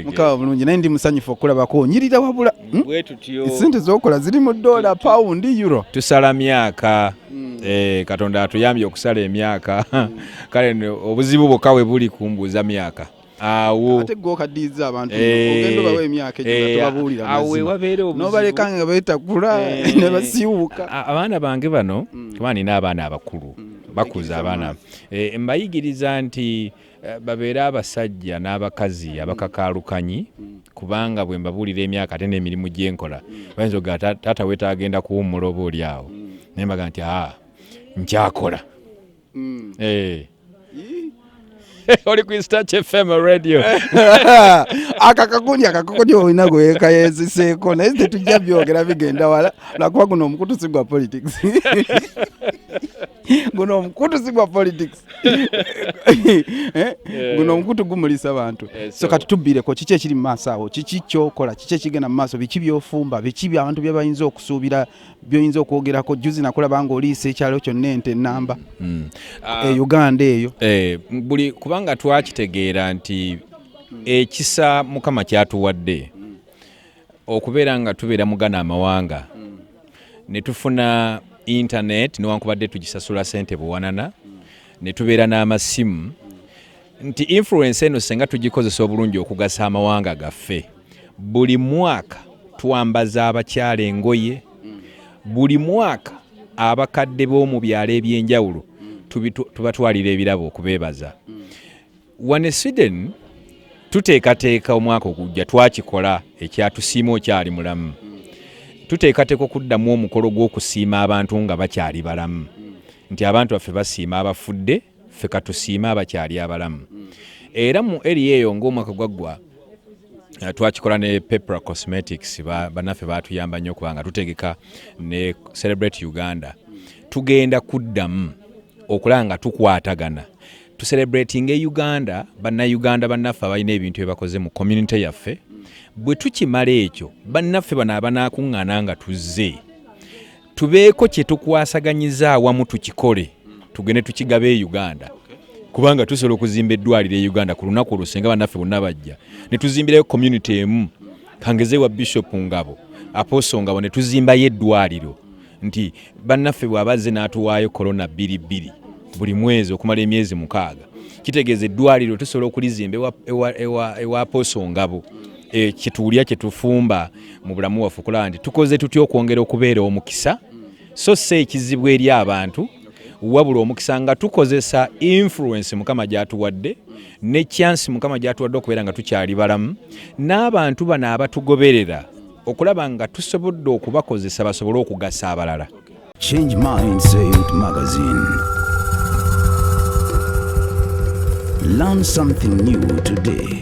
mukaba bulungi naye ndi musanyufu okulabako nyirira wabula hmm? sente zokola ziri mu dola pound euro tusala myaka hmm. eh, katonda atuyambye okusala emyaka hmm. kale obuzibu bwokka we buli kumbuuza myaka awo ate gwe okaddiza abantu eh, ogenda obawa emyaka egyo eh, tobabuulira nobaleka nga betakula ne basiiwuka abaana bange bano kuba nina abaana abakulu bakuza abaana mbayigiriza nti Eh, babeere abasajja n'abakazi abakakaalukanyi kubanga bwe mbabuulira emyaka ate n'emirimu gye nkola bayinza oga taata weta agenda kuwummula oba oli awo naye mbaga nti aa ah, nkyakola mm. eh. oli ku starch fm radio akakakundi akakakundi olina gwekayeziseeko naye tetujja byogera bigenda wala lwakuba guno omukutu si gwa politics guno omukutu si gwa politics Eh? Eh. guno omukutu gumulisa abantu eh, so kati tubbireko kiki ekiri mu maaso awo kiki kyokola kiki ekigenda mu maaso biki byofumba biki abantu byebayinza okusuubira byoyinza okwogerako juzi nakulaba nga oliisa ekyalo kyonna ente enamba hmm. ah. e uganda eyo buli kubanga twakitegeera nti ekisa mukama kyatuwadde okubeera nga tubeera mugana amawanga ne tufuna internet newankubadde tugisasula sente buwanana ne tubeera n'amasimu nti influence eno senga tugikozesa obulungi okugasa amawanga gaffe buli mwaka twambaza abakyala engoye buli mwaka abakadde b'omu byalo eby'enjawulo tubatwalira ebirabo okubeebaza Wano e Sweden tuteekateeka omwaka ogujja twakikola ekyatusiima okyali mulamu tuteekateeka okuddamu omukolo gw'okusiima abantu nga bakyali balamu nti abantu baffe basiima abafudde ffe katusiime abakyali abalamu era mu eri eyo ng'omwaka gwaggwa eh, twakikola ne pepera cosmetics banaffe batuyamba nnyo kubanga tutegeka ne celebrate uganda tugenda kuddamu okulaba nga tukwatagana to celebrating e Uganda banna Uganda bannaffe abalina ebintu ebakoze mu community yaffe bwe tukimala ekyo bannaffe bano abanaakuŋŋaana nga tuzze tubeeko kye tukwasaganyiza awamu tukikole tugende tukigabe e Uganda kubanga tusobola okuzimba eddwaliro e Uganda ku lunaku olwo singa bannaffe bonna bajja ne tuzimbirayo community emu kangeze wa bishop ngabo aposo ngabo ne tuzimbayo eddwaliro nti bannaffe bw'aba azze n'atuwaayo korona bbiri bbiri buli mwezi okumala emyezi mukaaga kitegeeza eddwaliro tusobola okulizimba ewa pooso ngabo e, kyetuwulira kyetufumba mu bulamu waffe okulaba nti tukoze tutya okwongera okubeera omukisa so si ekizibu eri abantu wabula omukisa nga tukozesa influence mukama gyatuwadde ne chance mukama gyatuwadde okubeera nga tukyali balamu n'abantu bano abatugoberera okulaba nga tusobodde okubakozesa basobole okugasa abalala Change Mindset Magazine. Learn something new today.